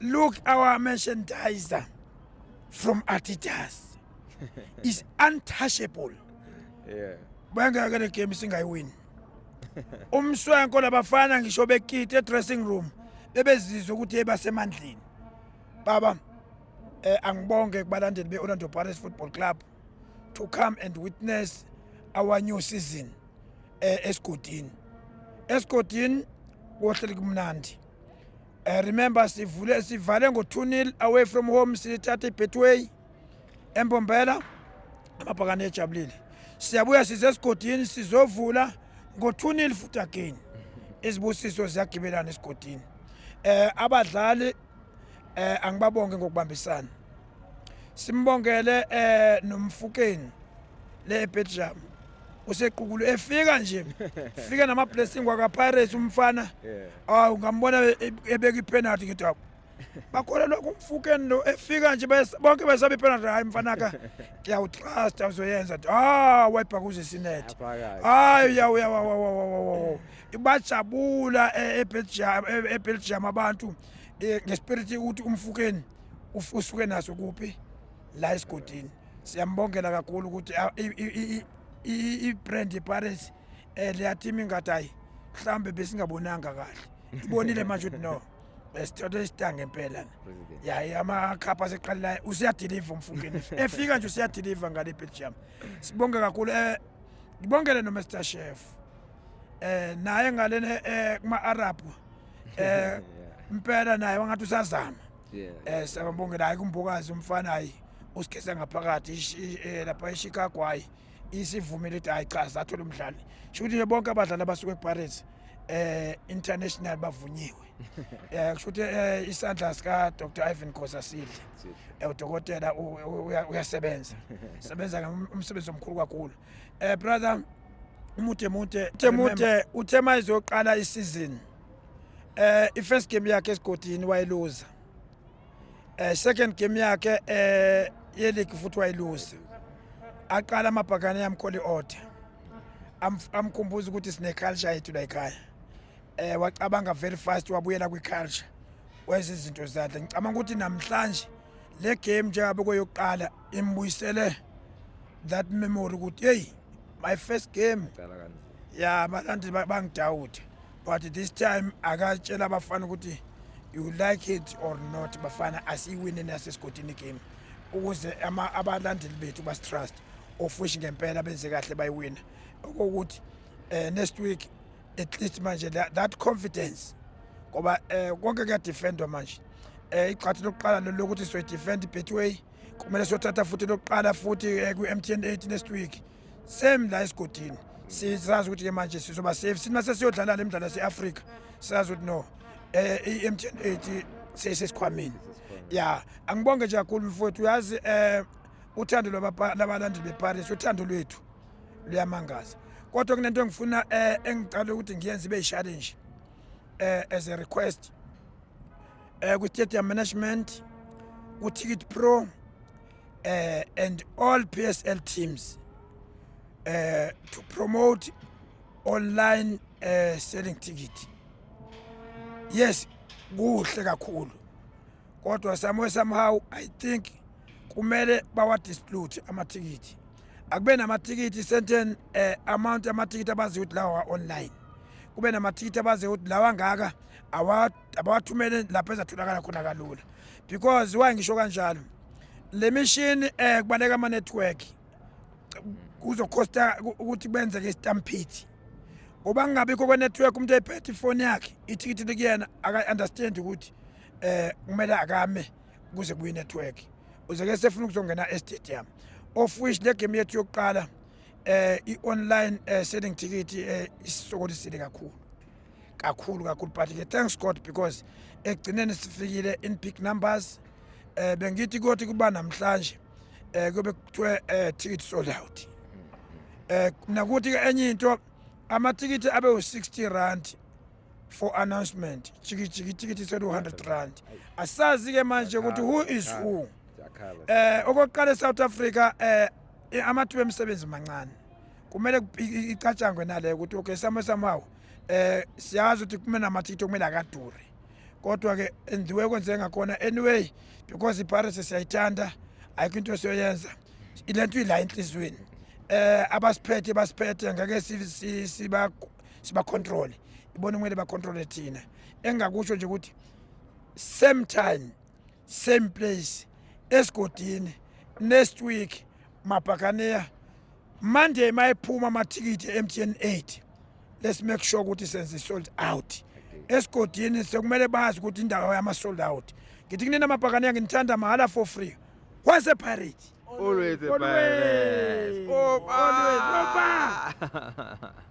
Look our merchandiser from Adidas is untouchable. Yeah. Bengeke le game singayiwini. Umswenko labafana ngisho bekite eDressing room bebezizwa ukuthi basemandleni. Baba eh angibonge kubalandeli beOrlando Pirates Football Club to come and witness our new season eh esigodini. Esigodini kohleli kumnandi. I eh, remember sivule sivale ngo-2-0 away from home sithatha i-betway embombela amabhakane ejabulile siyabuya size esigodini sizovula ngo-2-0 futhi again izibusiso ziyagibelana esigodini um abadlali um angibabonge ngokubambisana simbongele eh nomfukeni le Belgium usequkulu efika nje fika nama blessing waka Pirates umfana awu ngambona e- ebeka ipenalty ngithi awu bakhona lokho umfukeni lo efika nje bes- bonke besabe ipenalty hayi mfana ka ngiyawutrust awuzoyenza nje ah wayibhakuza isinethi Aphakathi. hayi yawu yawu yawu, yawu, yawu, yawu, yawu. bajabula e- eBelgium e- eBelgium abantu eh, ngespirit ukuthi umfukeni usuke naso kuphi la esigodini siyambongela kakhulu ukuthi i-brand yeparis um eh, leyathima ingathi hayi mhlawumbe besingabonanga kahle ibonile manje ukuthi no besithola isitanga impela yaye amakhapha aseqalelayo usiyadiliva umfungeni efika nje usiyadiliva ngale belgium sibonge kakhulu um eh, ngibongele nomr chef um eh, naye ngalena um kuma-arabhu eh impela naye wangathi usazama eh siyabongela hayi kumbokazi umfana hayi usigeza ngaphakathi eh, lapha eChicago hayi isivumile ukuthi hayi cha sathola umdlali sho ukuthi bonke abadlali abasuka ePirates eh international bavunyiwe eh kusho ukuthi eh, isandla sika Dr Ivan Khosa sidle eh, udokotela uyasebenza sebenza umsebenzi omkhulu kakhulu Eh brother umude mude temude uthe mayizoqala isizini eh ifirst game yakhe esigodini wayiluza eh second game yakhe eh yeligi futhi wayiluza aqala amabhakane yamkholi order amkhumbuza ukuthi sine culture yethu la ekhaya eh wacabanga very fast wabuyela kwi culture wenza izinto zakhe ngicabanga ukuthi namhlanje le game njengabe kweyokuqala imbuyisele that memory ukuthi hey my first game ya abalandeli bangidawude but this time akatshela abafana ukuthi you like it or not bafana asiyiwine nasesigodini game ukuze abalandeli bethu basitrust ofushi ngempela benze kahle bayiwina okokuthi um next week at least manje that confidence ngoba eh konke kuyadefendwa manje eh igxathu lokuqala lokuthi soyidefend betway kumele siyothatha futhi lokuqala futhi eh, ku-mtn 8 next week same la esigodini sizazi ukuthi-ke manje sizoba safe sina sesiyodlala le mdlalo yase-afrika sizazi ukuthi no eh i-mtn 8 seyisesikhwameni ya angibonge nje kakhulu mfowethu uyazi eh uthando labalandeli beparis uthando lwethu luyamangaza kodwa kunento engifuna eh, engicala ukuthi ngiyenze ibe challenge eh, as a request eh, ku stadium management ku ticket pro eh, and all PSL teams eh, to promote online eh, selling ticket yes kuhle kakhulu kodwa somewhere somehow i think kumele bawadisplute amathikithi akube namathikithi certain uh, eh, amount amathikithi abaziyo ukuthi lawa online kube namathikithi abaziyo ukuthi lawa ngaka abawathumele lapho ezatholakala khona kalula because why ngisho kanjalo le mishini um eh, kubaleka ama-network kuzokhosta ukuthi kwenzeke istamphiti ngoba kungabikho kwe-network umuntu eyiphethe ifoni yakhe ithikithi likuyena aka-understand ukuthi eh kumele akame kuze kuyi network uzeke sefuna ukuzongena e stadium of which le game yethu yokuqala eh i online eh, selling ticket eh isisokolisile kakhulu kakhulu kakhulu but ke thanks God because ekugcineni sifikile in big numbers eh bengithi kothi kuba namhlanje eh kube kuthiwe eh ticket sold out eh nakuthi ke enye into amathikithi abe u60 rand for announcement jikijiki tikithi sethi 100 rand asazi ke manje ukuthi who is who eh okokuqala eSouth Africa eh amathuba emisebenzi mancane kumele icatshangwe nale ukuthi okay samo samawo eh siyazi ukuthi kumele amathikithi okumele akadure kodwa ke endiwe kwenze ngakhona anyway because iParis siyayithanda ayikho into esiyoyenza ilento ila enhlizweni eh abasiphethe basiphethe ngeke siba sibacontrole ibona kumele bacontrole thina engakusho nje ukuthi same time same place esigodini next week mabhakaneya monday mayephuma amathikithi emtn 8 let's make sure ukuthi senze sold out esigodini sekumele bazi ukuthi indawo yama-sold out ngithi kunini amabhakane yanginithanda mahhala for free wase pirate always a pirate always, always.